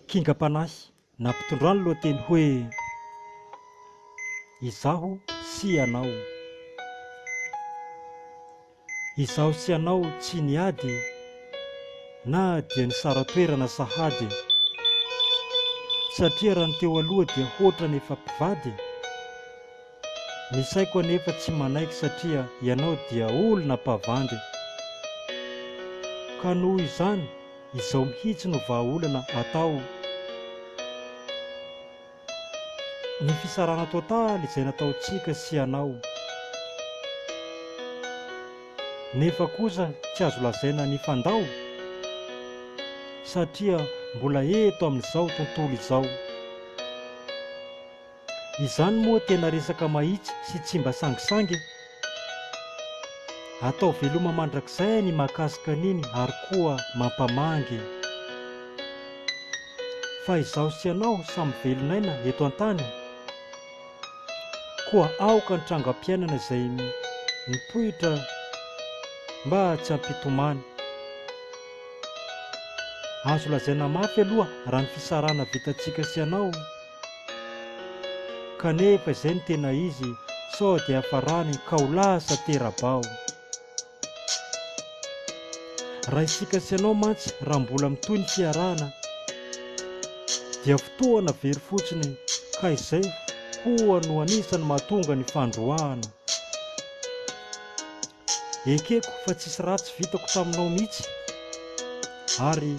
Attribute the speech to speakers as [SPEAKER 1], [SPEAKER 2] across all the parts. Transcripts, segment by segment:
[SPEAKER 1] Kingam-panahy na mpitondran'ny lohateny hoe Izaho sy Ianao. Izaho sy Ianao tsy niady na dia nisara-toerana sahady. Satria raha ny teo aloha dia hoatra ny efa mpivady. Ny saiko anefa tsy manaiky satria ianao dia olona mpavandy ka noho izany izao mihitsy no vahaolana atao ny fisarahana totaly izay nataontsika sy ianao nefa kosa tsy azo lazaina nifandao satria mbola eto amin'izao tontolo izao. Izany moa tena resaka mahitsy sy tsy mba sangisangy e! Atao veloma mandrakizay ny mahakasika an'iny ary koa mampamangy e! Fa izaho sy ianao samy velon'aina eto an-tany, koa aoka ny trangam-piainana izay mipoitra mba tsy hampitomany. Azo lazaina mafy aloha raha ny fisarahana vitantsika sy ianao, Kanefa izay no tena izy sao dia hafarany ka ho lasa tera-bao. Raha isika sy ianao mantsy raha mbola mitohy ny fiarahana dia fotoana very fotsiny ka izay koa no anisan'ny mahatonga ny fandroahana. Ekeko fa tsisy ratsy vitako taminao mihitsy ary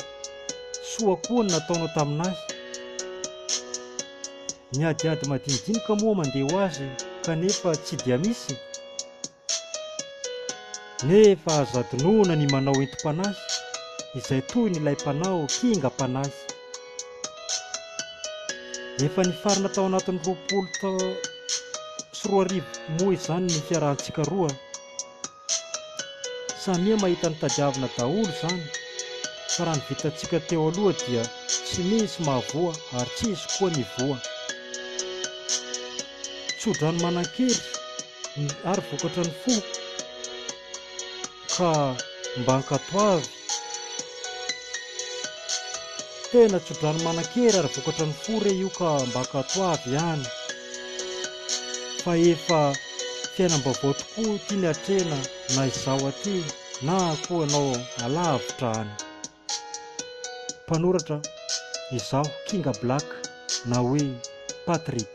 [SPEAKER 1] soa koa ny nataonao tamin'ahy. Ny adiady madinidinika moa mandeha ho azy kanefa tsy dia misy. Nefa aza adinoina ny manao entim-panahy izay toy ny ilay mpanao kingam-panahy. Efa nifarana tao anatin'ny roapolo tao sy roa arivo moa izany ny fiarahantsika roa. Samia mahita ny tadiavina daholo izany fa raha ny vitantsika teo aloha dia tsy misy mahavoa ary tsy hisy koa ny voa. Tsodrano manan-kery ary vokatra ny fo ka mba ankatoavy Tena tsodrano manan-kery ary vokatra ny fo re io ka mba katoavy ihany fa efa fiainam-baovao tokoa ity ny hatrena na izaho aty na koa ianao alavitra any. Mpanoratra, Izaho Kinga Black na hoe Patrick.